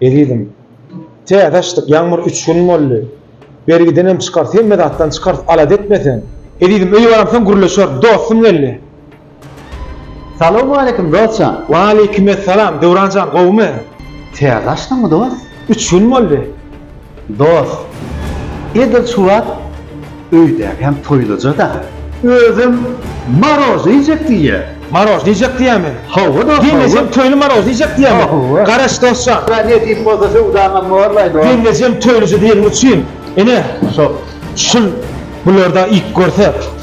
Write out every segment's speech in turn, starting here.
Ezizim. Täze açdyk ýagmyr üç gün boldy. Bergidenem çykarys hemme zatdan çykarys alada etmeseň. Ezizim öýe baramsoň gürleşeris dostum geldi. Salowmaleýkim dostjan. Waleýkimessalam Döwranjan gowumy. Täze açdyňmy dost? Üç gün boldy. Dos, edil şu wagt öýdäkäm toýluja-da. Özem maroz iýjek diýýä. Maroz iýjek diýýämi? Hawa, dos, hawa. Gelnejem toýly maroz iýjek diýýämi? Hawa. Garaş, dos jan. Bra, ne diýip bolsa söwdaňam bollaý, dos. Gelnejem toýluja diýeniň üçin, ine, şol şul bulardan iýip görsek.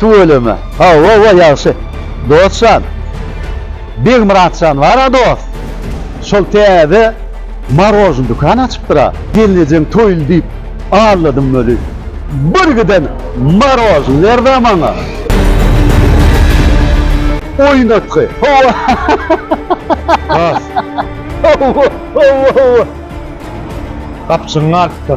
Tüweleme. Hawa-wa ýagşy. Dost jan. Begmyrat jan bar-a dost. Şol täze marojny dükan açypdyr-a. Gelnejeň toýly diýip alladym weli. Bir giden marojny ber-dä maňa. Oýnatgy. Hawa. Has. Hawa-hawa-hawa. Gapjygyň artda.